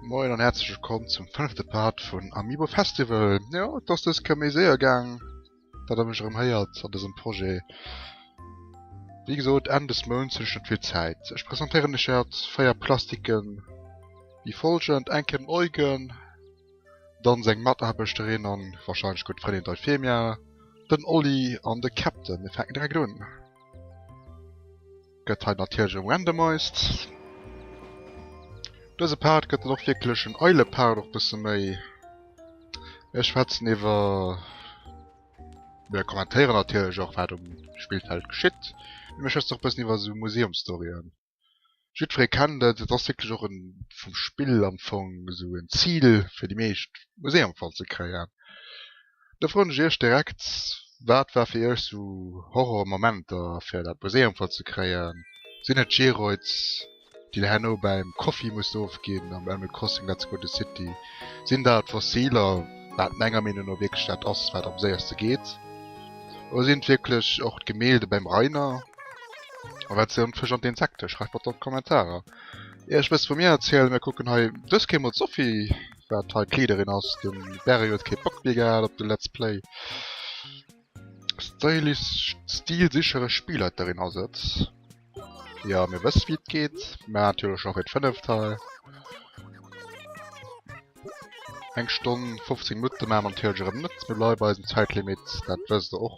Moin an herzlich willkommen zum fünfte Part vun Amiibo Festival. Ja, dass das kë méi séier gang, dat er mech erëm héiert an dësem Projet. Wie gesot Enn des Mounts hunn ech net vill Zäit. Ech presentéieren lech haut 4 Plastiken, wie folgend, Enkem Eugen, dann seng Mataarbechterin an wahrscheinlech gudd Frëndin d'Eufemia, den Olli an de Captain. Mir fänken direkt un. Gëtt hei natierlech gerandomized. Dëse Part gëtt dann och wierklech en eile Part, och bësse méi. Ech schwätzen iwwer, oder kommentéieren natierlech och, wat um Spillfeld geschitt. Ech schwätzen och bëssen iwwer esou Museumsstoryen. Jiddweree kennt et, et ass wierklech och e vum Spill am Fong esou en Zil fir déi meescht, muss ee am Fall ze kréien. Da froen ech iech direkt, wat war fir iech esou Horrormomenter fir dat muss ee am Fall ze kréien? Sinn et d'Geroids déi der herno bäim Koffi musst ofginn am Animal Crossing Let's Go The City? Sinn dat d'Fossiler, wat menger Meenung no wierklech dat ass wat am séierste geet? Oder sinn et wierklech och d'Gemälde bäim Rainer? A wat si an d'Fësch an d'Insekte? Schreift mat an d'Kommentarer. Ier ech wësst wou mir erzielen, mir kucken hei dës Keer mol d'Sophie wat hei d'Leaderin ass. De Barry huet kee Bock méi gehat op de Let's Play. Stylish stilsichere Spielleiterin ass et. Jo mir wësse wéi et geet. Mä natierlech och wéi d'fënneft hei. Eng Stonn 15 Minutte maache mer natierlech erëm net. Mir bleiwe bei eisem Zäitlimit, dat wësst der och.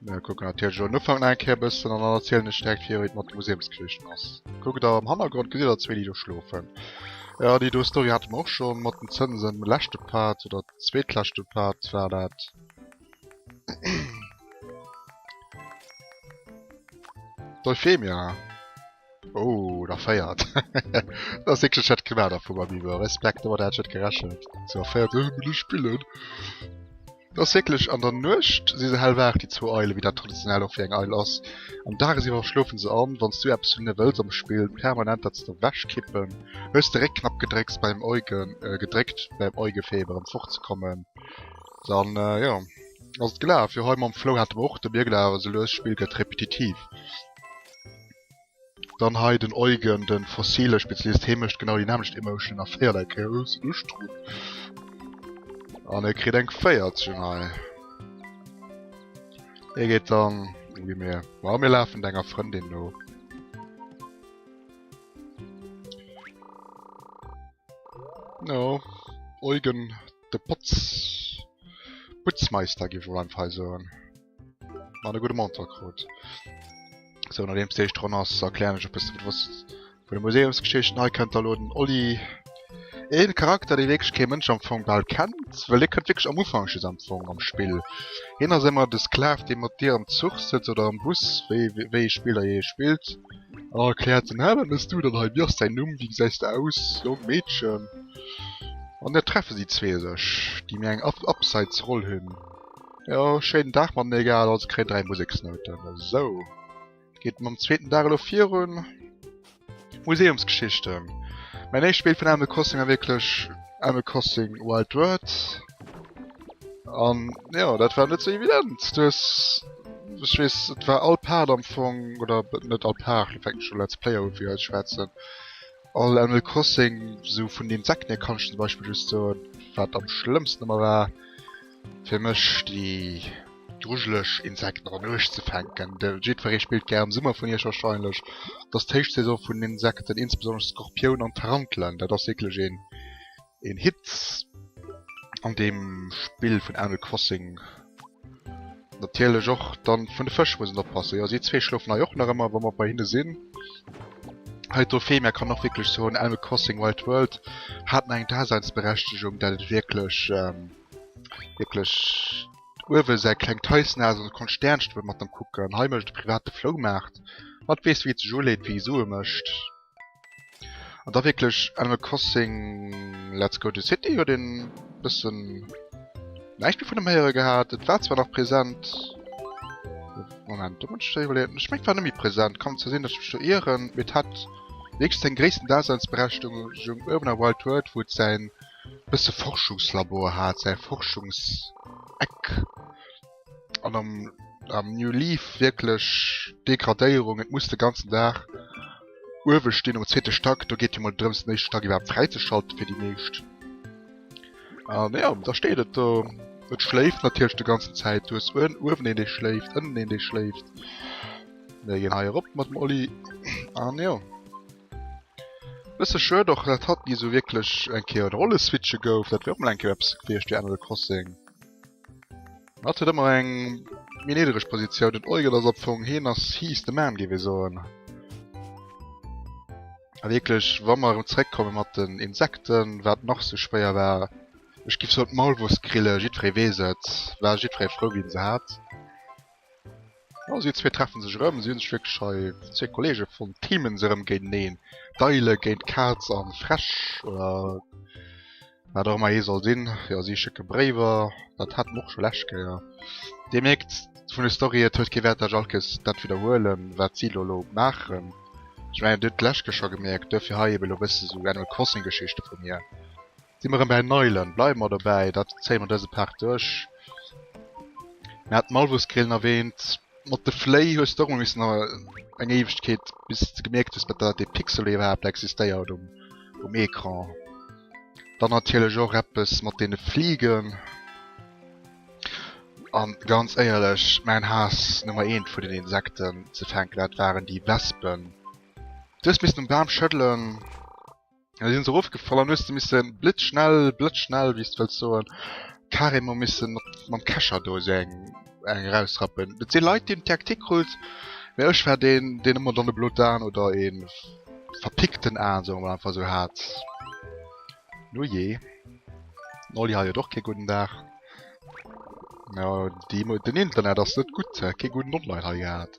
Mir kucken natierlech den Ufank nach eng Kéier e bëssen an dann erzielen ech direkt fir wéi et mat de Museumskierchen ass. Kuckt der am Hannergrond gesitt der zwee déi do schlofen. Ja déi do Story hate mer och scho mat den Zënsen de leschte Part oder zweetleschte Part war dat. D'Euphemia. Oh der féiert da ass wécklech dat Grimmer da vum Amiibo. Respekt domat hat ech net gerechent. Sou a féiert ech mech duerch d'Spillen. Et ass wécklech an der Nuecht si se hellwaach déi zwou Eile wéi dat traditionell och fir eng Eil ass. Am Dages iwwer schlofen se an. Wann s du eppes wënne wëlls am Spill permanent dat se der wechkippen, hues de Réckknapp gedrécks beim Euge gedréckt beim Eugefeber em fortzekommen. Dann jo ass et gelaf. Jo hei mam Flou hate mer och de Biergel awer sou lues d'Spill gëtt repetitiv. Dann hei den Eugen, den fossile Spezialist, hee mecht genau déi nämlecht Emotion a véierlei Kéier hues de Lust drun. An e kritt eng 14 hei. E geet dann ui mir. Wa mir lafen denger Frëndin no. No Eugen de Potz Putzmeister gi wou einfach soen. An e gute Monter krut. So no deems déicht Ronn ass erklären ech op bis wat wosst vu de Museumsgeschichten. Hei kënnt der lo den Olli. Een Charakter dee wierklech kee Mënsch am Fong bal kennt, well dee kënnt wierklech am Ufank just am Fong am Spill. Hien ass émmer de Sklav dee mat dir am Zuch sëtzt oder am Bus, wéi wéi ee Spill der jee spillt, an erkläert den Hä wat mëss du dann hei? Wéi ass däin Numm? Wéi gesäis de aus? Jong? Meedchen? An da treffe si zwee sech, déi méi eng Ab Abseitsroll hunn. Jo, schéinen Dag mat mir gehat, also kréien 3 Museksnouten. Esou. Geet mam zweeten Dag elo virun. Museumsgeschichte. Mäin éischt Spill vun Animal Crossing war wierklech Animal Crossing Wild World. An jo, dat war net sou evident. Du hues, ech weess, et war all Part am Fong, oder net all Part, lo fänken ech u Let's Player u fir iech schwätzen. All Animal Crossing sou vun den Sekten hier kann ech zum Beispiel just soen wat am schlëmmsten ëmmer war fir mech déi grujeleg Insekten an Uecht ze fänken. De jiddferee spillt gär am Summer vun iech wahrscheinlech, et ass d'Héichsaison vun Insekten, insbesonnesch Skorpioun an Tarantelen, dat ass wierklech een een Hit an deem Spill vun Animal Crossing. Natierlech och dann vun de Fësch mussen oppassen. Jo si zwee schlofen hei och nach ëmmer, wa mer bei hinne sinn. Hei d'Trophée, mä kann och wierklech soen, Animal Crossing Wild World hat nach eng Daseinsberechtegung, dat et wierklech, wierklech uewe säi klengt Häuschen hat an et konnt Stäernchen op e mat am kucken. Hei mécht e private Floumaart, mat weess wéi et sech uleet, wéi e Sue mécht. An da wierklech Animal Crossing Let's Go to City huet een bëssen näischt méi vun dem héiere gehat. Et war zwar nach präsent. Moment, do muss ech schnell iwwerleeën. Ech mengt war net méi präsent. Kann zwar sinn, datt ech mech do ieren. Mee et hat wierklech seng gréissten Daseinsberechtigung uewen am Wild World, wou et säin bësse Forschungslabor hat, säi Forschungseck. an am, am New Leaf wierklech Degradéierung, et muss de ganzen Dag uewe stinn um zweete Stack, do geet jo mol drëms den éischte Stack iwwerhaapt fräizeschalten fir déi meescht. An jo, da steet et do. Et schléift natierlech de ganzen Zäit, du hues uewen, uewen een dee schléift, ënnen een dee schléift. Mir ginn hei erop mat dem Olli, an jo. Bësse schued och, dat hatt ni esou wierklech eng Kéier en Rolleswitche gouf, dat wär och mol eng Kéier eppes gewiescht wéi Animal Crossing. Hat huet ëmmer eng méi niedereg Positioun. Den Eugel ass opfong heen ass he's the man géif ee soen. A wierklech wa mer erëm zeréckkomme mat den Insekten, wat nach sou schwéier war. Ech giff soen d'Maulwursgrille, jiddweree weess et, war jiddweree frou wien se hat. Also, zwee treffen sech erëm. Si hunn sech wierklech hei, zwee Kollege fonnt. Teamen se erëm géinteneen. D'Eile géint d'Kaz an d'Fräsch, oder wat och ëmmer ee soll sinn. Jo, si schécke Bréiwer. Dat haten mer och scho lescht Kéier. Dir mierkt vun der Story, et huet kee Wäert, datt ech all Kéiers dat widderhuelen, wat si elo elo maachen. Ech mengen, dir hutt d'lescht Kéier scho gemierkt. Duerfir hei ebe elo e bësse sou Animal Crossing-Geschichte vu mir. Si mer erëm bäi Neulen, bleiwe mer dobäi, dat zéie mer dëse Part duerch. Mir haten Malvusgrillen erwähnt. Mat de Fléi hues de och mol missen eng Éiwegkeet, bis s de gemierkt hues, datt dee Pixel iwwerhaapt existéiert um Ecran. Dann natierlech och eppes mat deene Fliegen. A ganz éierlech, mäin Haass Nummer eent vun den Insekten ze fänken, dat waren déi Wespen. Du hues missen um Bam schëddelen. Da sinn se erofgefall an hues de missen blitzschnell, blëtzschnell wéi s de wëlls soen, carrément missen mat mam Kescher do esou eng eng erausrappen. Et sinn Leit deen TAC tic krut, mä ech war deen deen ëmmer dann e blot Aan oder e verpickten Aan, soe mer mol einfach esou, hat. Nujee, den Olli hat jo och kee gudden Dag. Jo, déi Mo den Internet ass net gutt, hat kee gudden Online hei gehat.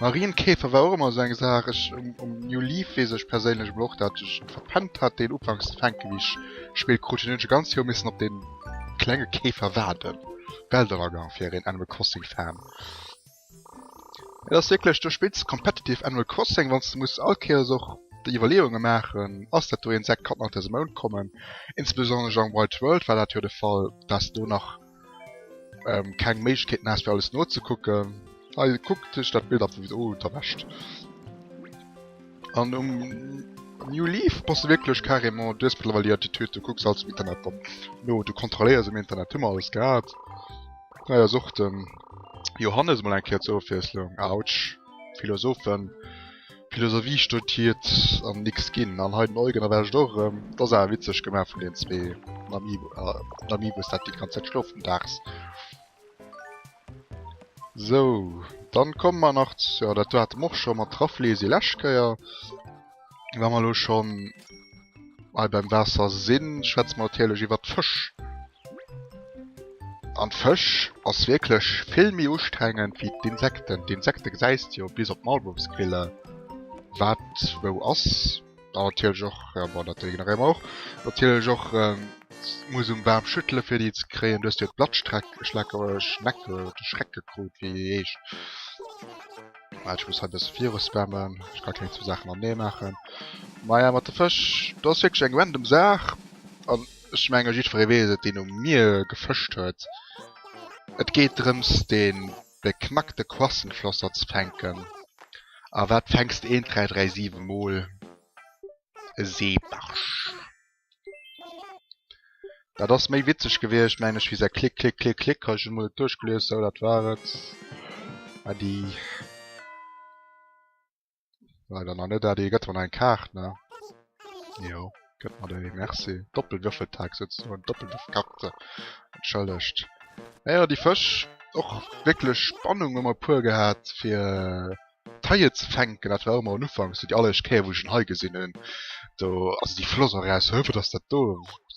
Marienkäfer war och emmer esou eng Saach. Ech um New Leaf weess ech perséinlech emol och dat ech verpennt hat deen ufanks ze fänken wéi ech gespillt krut hunn. Hunn ech e ganzt Joer missen op den klenge Käfer waarden. Bell der Agang fir een Animal Crossing Fan. Et ass wierklech, do spills de competitive Animal Crossing wanns de muss all Kéiers och déi Iwwerleeungen maachen, ass dat do een Sekt kann nach dëse Mount kommen. Insbesonnesch am Wild World war dat jo de Fall, dass do nach. ähm, keng Méiglechkeeten hast fir alles nozekucken. Hei kuck dech dat Bild ab, wieso oh, derwäscht. An um New Leaf bass du wirklich carrément, du hast mittlerweile die Attitüde, du kucks alles im Internet dann. No, du kontrolléiers im Internet, hummer alles gehabt. Naja, sucht den Johannes mal eng Keer zur Ofwiesslung. Autsch, Philosophen. Philosophie studiert an nix gin an hei den Eugen erwescht och erem. Dat ass awer witzeg gemaach vun den zwee den Amiibos dat déi ganz Zäit schlofen dags. Sou dann komme mer nach zur dat haten mer och schon mat Rafflesia lescht Kéier. Wa mer elo schon hei beim Waasser sin schwätze mer natierlech iwwert d'Fësch. An d'Fësch ass wierklech vill méi ustrengend wéi d'Insekten. D'Insekte gesäis de jo bis op d'Malbumsquiller wat wou ass. A natierlech och, ja bon dat ignoréiere mer och, natierlech och muss um Bam schüttele fir déi ze kréien. Du hues jo d'Blattstreck, Schleck, Schneck, Schreck gekrut wéi déi heescht. Well ech muss hei e bësse viruspammen, ech ka keng zwou Saachen an ee maachen. Maja mat de Fësch, do ass wierklech eng random Saach an. Ech menge jiddweree weess et, deen um Mier gefëscht huet. Et geet drëms, den beknackte Quassenflosser ze fänken. A wat fänks de eent, dräi, dräi, siwe Mol? E Seebarsch. Dat ass méi witzeg gewiescht, meng ech, wéi säi Klick, Klick, Klick, Klick. Ech hu mol et duerchgelies. Sou, dat war et. Äddi. Leider nach net Adi, gëtt man eng Kaart ne? Jo, gëtt man déi, merci. Doppelwürfeltag sozusagen, Doppelwürfelkarte. Entschëllegt. Naja, déi Fësch, och wierklech Spannung hu mer puer gehat, fir d'Haie ze fänken. Dat war och ëmmer en Ufank, esou déi alleréischt Kéier, wou ech en Hai gesinn hunn. Do ass déi Floss och eraus, hö, wat ass dat do?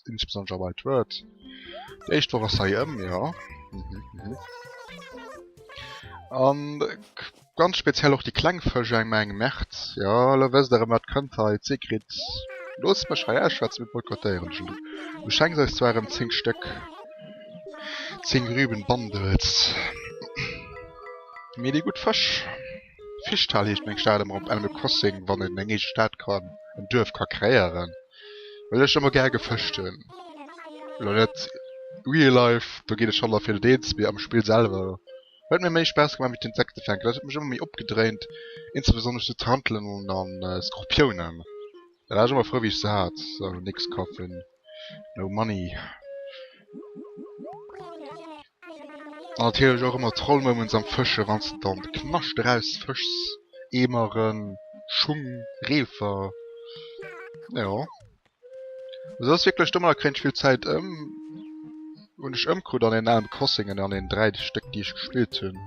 Insbesonnesch am White Word. Déi éischt Woch ass hei ëm, jo. An Ganz speziell och déi kleng Fësch eng Mä eng Mertz. Jo, elo wësst der erëm wat kënnt hei, d'Sigrid. Loosst mech hei ausschwätzen, mir boykottéieren dech elo. Du schenks eis zwar erëm 10 Stéck, 10 Rüben Bundles, mee déi gutt Fësch, Fischtal heescht meng Stad, ëmmer op Animal Crossing, wann een eng eege Stad kann, en Duerf ka kreéieren, well ech ëmmer gär gefëscht hunn. Elo net real life, do ginn ech schonn erfir den Eens, mee am Spill selwer. Huet mir méi Spaass gemaach wéi d'Insekte fänken, dat huet mech ëmmer méi opgedréint, insbesonnesch sou Tarntelen an Skorpiounen, da war ech ëmmer frou wéi ech se hat. So nix kafen, no money. An natierlech och ëmmer Trollmoments am Fëschen, wann s de dann de Knascht eraus fëschs, Eemeren, Schung, Reefer, jo. Sos wierklech domm an da kréien ech vill Zäit ëm. Hunn ech ëmkrut an een alen Crossing an an een 3 Stéck déi ech gespillt hunn.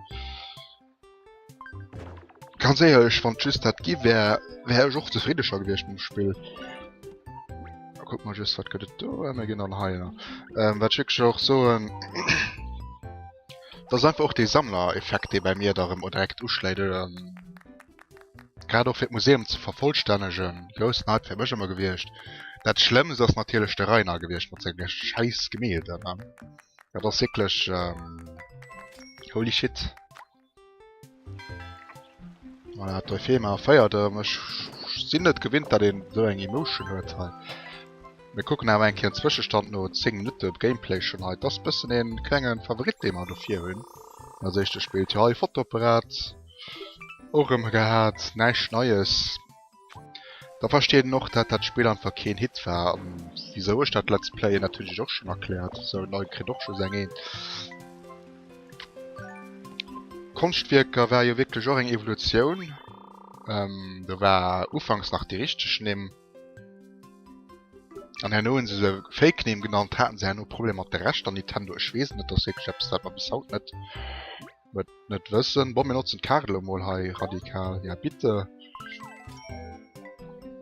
Ganz éierlech wann et just dat gi wär, wär ech och zefriddeger gewiescht mam Spill. A kuck mol just wat gëtt et do, a mir ginn dann heier. Wat ech wierklech och soen, dat ass einfach och dee Sammlereffekt dee bei mir da erëm direkt uschléit oder. grad och fir d'Museum ze vervollstännegen, groussen Hype fir mech ëmmer gewiescht. Dat Schlëmmst ass natierlech de Rainer gewiescht mat senge schäiss Gemälden. Ne? Dat ass wierklech ähm, holy shit. Voilà, hat doi Thema feiert ëm. Ech sinn net gewinnt, dat een so eng Emotion huet hei. Mir kucken awer eng Kéier Zwëschestand no 10 Minutte Gameplay schon hei. Das bëssen een klengen Favorit, dee mer dofir hunn. Als éischte spillt jo hei Fotoapparat. Och rem gehaat, näischt Neies. Da versteet een och dat dat Spill einfach keen Hit war an wisou ech dat Let's Playen natierlech och schon erklärt. Sou en Neue kritt och just eng Eent. Konschtwierker war jo wierklech och eng Evolutioun. Do war ufanks nach déi richteg Nimm an herno hunn se se Fake Nimm genannt. Haten se herno Problemer mat de Rechter, Nintendo? Ech weess et net, dat ass wierklech eppes wat mer bis haut net. Wat net wëssen. Bon mir notzen d'Kadel emol hei radikal. Ja bitte.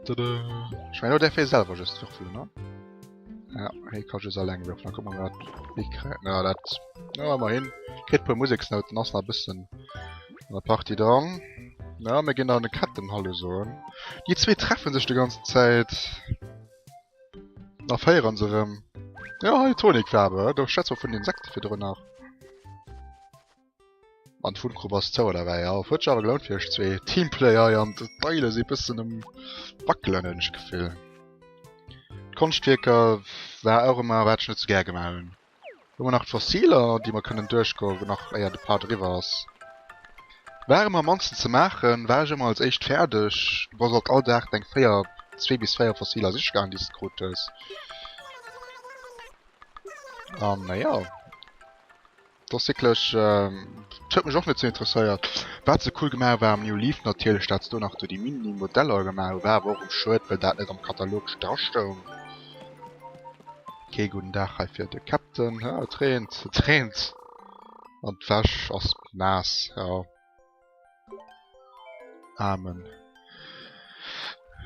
Tada. Ech mein lo däerf hie selwer just würfelen ne? Ja, hie ka just alleng würfelen. Da kucken mer wat hie kréien. Ja dat, ja emmerhin. Kritt puer Museksnouten, ass nach e bëssen an der Partie dran. Ja mir ginn dann de Ketten Hallo soen. Déi zwee treffe sech de ganzen Zäit. Da féieren se rëm. Ja, hei Tonikfarbe. Do schätz mal vun Insekte fir drun nach. An d'Funkrub ass zou oder wei. Ja, huet awer gelount fir ech zwee Teamplayer hei an d'Beile si bëssen um Wackelen hunn ech Gefill. Konschtwierker war och ëmmer wat ech net sou gär gemaach hunn. Hu mer nach d'Fossiler, déi mer kënnen duerchgoen, nach éier de Part eriwwer ass? War ëmmer am mannsten ze maachen, war ech ëmmer als éischt fäerdeg. Du bass alt all Dag deng véier, zwee bis véier Fossiler sichgaangen, déi s de krut hues. An naja, et ass wierklech, et huet mech och net sou interesséiert. Wat se cool gemaach hu war am New Leaf natierlech, dat se do nach do déi Mini-Modeller gemaach hu. War awer och schued, well dat net am Katalog drastoung. Kee gudden Dag hei fir de Captain. Ah, et reent, et reent! An d'Wäsch ass naass, ja. Aarmen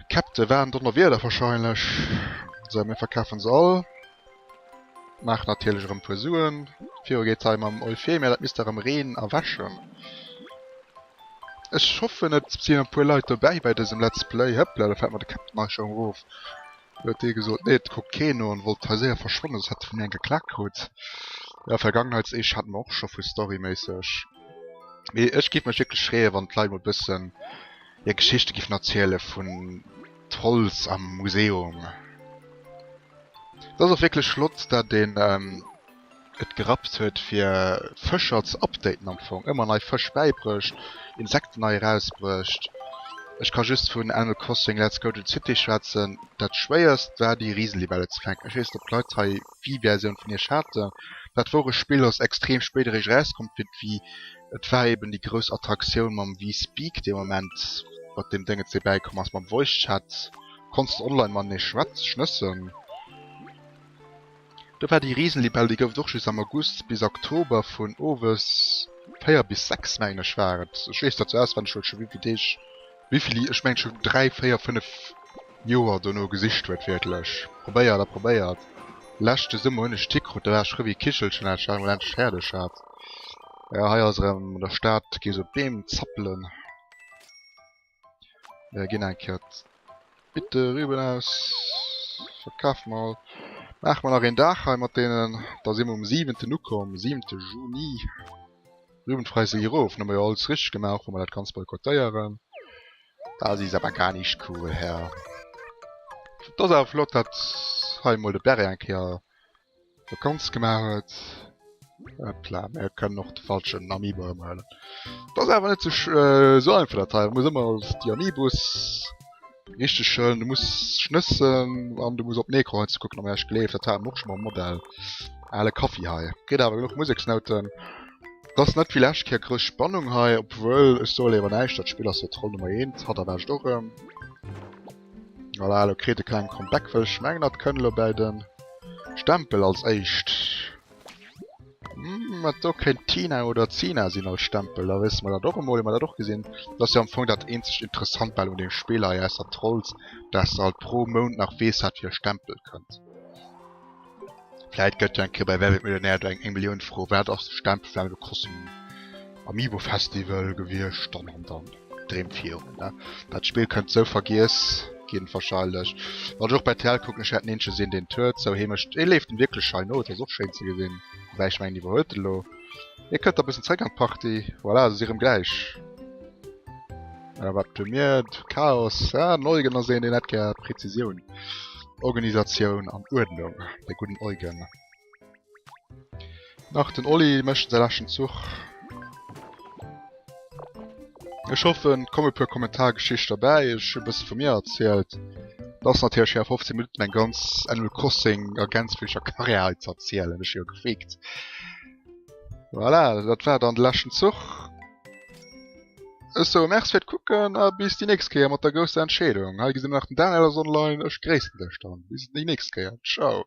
Captain, war en Donnerwieder wahrscheinlech. Sou, mir verkafen se all. Maachen natierlech erëm e puer Suen. Viru geet et hei mam Euphemia, dat misst der erëm reen a wäschen. Ech hoffen et sinn e puer Leit dobäi bei dësem Let's Play. Hëppla, do fält mer de Captain eis scho erof. Do huet dee gesot, Nee, et kuckt keen no an wollt hei séier verschwannen, soss hätt e vun mir eng geklak krut. Jo, Vergangenheitseeche hate mer och scho vu storyméisseg. Mee ech géif mech wierklech freeë wann d'Leit mol bëssen hir Geschichte géifen erziele vun Trolls am Museum. Et ass och wierklech flott dat een. et gerappt huet fir Fëscher ze updaten am Fong, ëmmer nei Fësch bäibrécht, Insekten nei erausbrécht. Ech ka just vun Animal Crossing Let's Go to the City schwätzen, dat schwéierst war déi Risenlibelle ze fänken. Ech weess net op d'Leit hei wéi Versioun vun iech haten, dat wor e Spill ass extrem spéit eréischt erauskomm fir d'Wii, et war eben déi grouss Attraktioun mam Wii Speak dee Moment mat deem Déngetz dee bäikomm ass mam Voice Chat, konns de online matenee schwätzen, schnëssen. Do war déi Risenlibell, déi gouf et och just am August bis Oktober vun owes 4 bis 6 mengen ech war et. Ech weess dat sou auswenneg well et scho wéivill Deeg, wéivill, ech mengen scho 3, 4, 5 Joer dono gesicht huet wierklech. Probéiert a probéiert. Leschte Summer hunn ech d'Hi krut, da war ech rëm wéi e Kichelchen dat ech dat emol endlech fäerdeg hat. Jo hei ass erëm an der Stad gees op Beem zappelen. Mir ginn eng Kéier d'Bitte Rüben aus. Verkaf mol. Maache mer nach een Dag hei mat deenen. Da si mer um siwenten ukomm, siwente Juni. Rübenpreis si erof. Hunn mer jo alles richteg gemaach, och wa mer dat Ganzt boykottéieren. Dat is awer gar nicht cool, Herr. Et ass awer flott, datt hei emol de Bere eng Kéier. Dat ganz gemaach huet. Hopla, mir kënnen och de falschen Amiibo ermhëllen. Dat ass awer net sech so einfach dat hei. Muss ëmmer als déi Amiibos richteg hëllen. Du muss schnëssen an du muss op Necron hei ze kucken. Mä ech gleef dat haten mer och scho mam Modell. Ale Kaffi hei. Kritt awer genuch Museksnouten. Dat ass net wéi lescht Kéier grouss Spannung hei. Obwuel ech soen, Léiwer näischt. Dat Spill ass jo Troll Nummer Eent. Hatt erwaart och erëm. Voilà, lo kritt e kleng Comeback, well ech mengen dat kënn lo bäi den Stempel als éischt. Mat do kéint Tina oder Zina sinn als Stempel, da wësse mer dat och emol, hunn mer dat och gesinn. Dat ass jo am Fong dat eenzegt Interessant bal un deem Spill hei, ausser Trolls, dass de halt pro Mount nach weess, wat fir e Stempel kënnt. Vläit gëtt jo eng Kéier bei Wer wird Millionär do eng 1 Millioun Fro, wat ass de Stempel vun engem Kossen Amiibo Festival gewiescht an an dann Dreem virun ne. Dat Spill kënnt sou vergiess ginn wahrscheinlech. Wann ech och bei TL kucken, ech wäert den eenzegen sinn deen et huet, sou Heemecht. Hie leeft wierklech schein no, et ass och schéin ze gesinn, woubäi ech mengen hie iwwerhuet et elo. Hie kënnt da bëssen zeréck an d'Partie, voilà, et ass irem gläich. Voilà, wat hu mir? Chaos, ah, den Eugen ass een, deen hätt gär Präzisioun, Organisatioun an Uerdnung, de gudden Eugen. Nach den Olli mécht säi leschten Zuch. Ech hoffen, et komme e puer Kommentargeschichte derbäi, ech hu e bësse vu mir erzielt. Et ass natierlech schwéier a 15 Minutten eng ganz Animal Crossing a gänzfleeger Karriär hei ze erzielen, ech si jo gefreegt. Voilà, dat war dann de leschten Zuch. Ech soe Merci fir d'Kucken a bis déi nächst Kéier mat der grousser Entscheedung. Hei gesi mer nach den Daniel ass online. Ech gréissen dech dann. Bis déi nächst Kéier. Ciao.